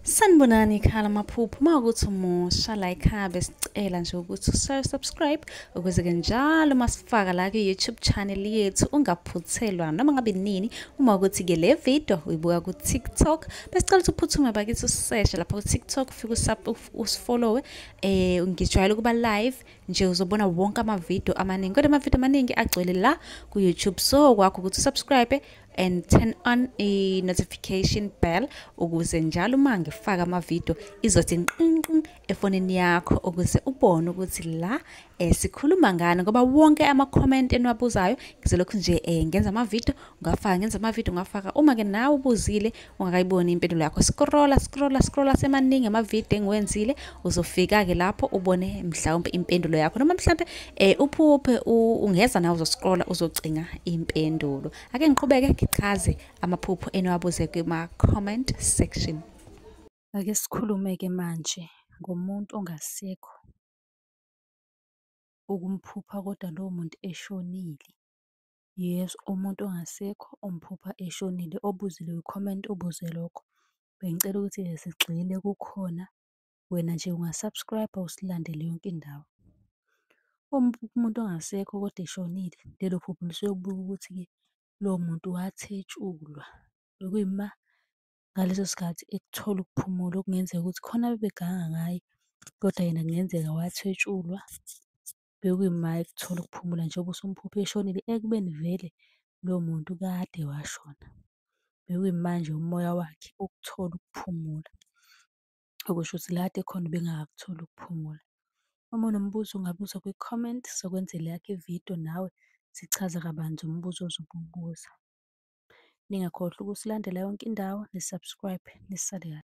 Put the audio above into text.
sanibonani ikhala amaphupho uma ukuthi umusha la ikhaya besicela nje ukuthi usubscribe ukuze-ke njalo uma sifaka la kwi-youtube channel yethu ungaphuthelwa noma ngabe nini uma ukuthi-ke le video uyibuka ku-tiktok besicela ukuthi uphuthume bakithi useshe lapha ku-tiktok ufike usifollowe um eh, ngijwayele ukuba live nje uzobona wonke amavidiyo amaningi kodwa amavidiyo amaningi agcwele la ku-youtube so kwakho ukuthi usubscribe and turn on a notification bell ukuze njalo uma ngifaka amavidiyo izothi nqinqin efonini yakho ukuze ubone ukuthi la eh, sikhuluma ngani ngoba wonke ama-comment eniwabuzayo ngizolokhu nje eh, ngenza amavidiyo ngafaka ngenza amavidiyo ngafaka uma-ke nawe ubuzile ungakayiboni impendulo yakho scrolla scrolla scrolla semaningi amavidiyo engiwenzile uzofika-ke lapho ubone mhlawumpe impendulo yakho noma mhlawumpe um uphuphe ungeza nawe uzoscrolla uzocinga impendulo ake ngiqhubeke ngichaze amaphupho eniwabuze kuma-comment section ake sikhulume-ke manje ngomuntu ongasekho ukumphupha kodwa lowo muntu eshonile Yes, umuntu ongasekho umphupha eshonile, obuzile kwi-comment ubuze lokho. Bengicela ukuthi sigxile kukhona, wena nje unga-subscribe-a usilandele yonke indawo. Uma uphupha umuntu ongasekho kodwa eshonile, lelo phupho lisuke kubikwa ukuthi-ke lowo muntu wathetshulwa. Bekuyima ngaleso sikhathi ekuthola ukuphumula okungenzeka ukuthi khona abebeganga ngaye, kodwa yena kungenzeka wathetshulwa. bekuyima ekuthola ukuphumula njengoba uSomphuphe eshonile ekubeni vele lo muntu kade washona. Bekuyimanje umoya wakhe ukuthola ukuphumula, okusho ukuthi la kade ekhona ubengakakutholi ukuphumula. Uma unombuzo ungabuza kwi-comment, sizokwenzela eyakho ividiyo nawe sichaze kabanzi umbuzo ozobe uwubuza. Ningakhohlwa ukusilandela yonke indawo, ni-subscribe, nisale kahle.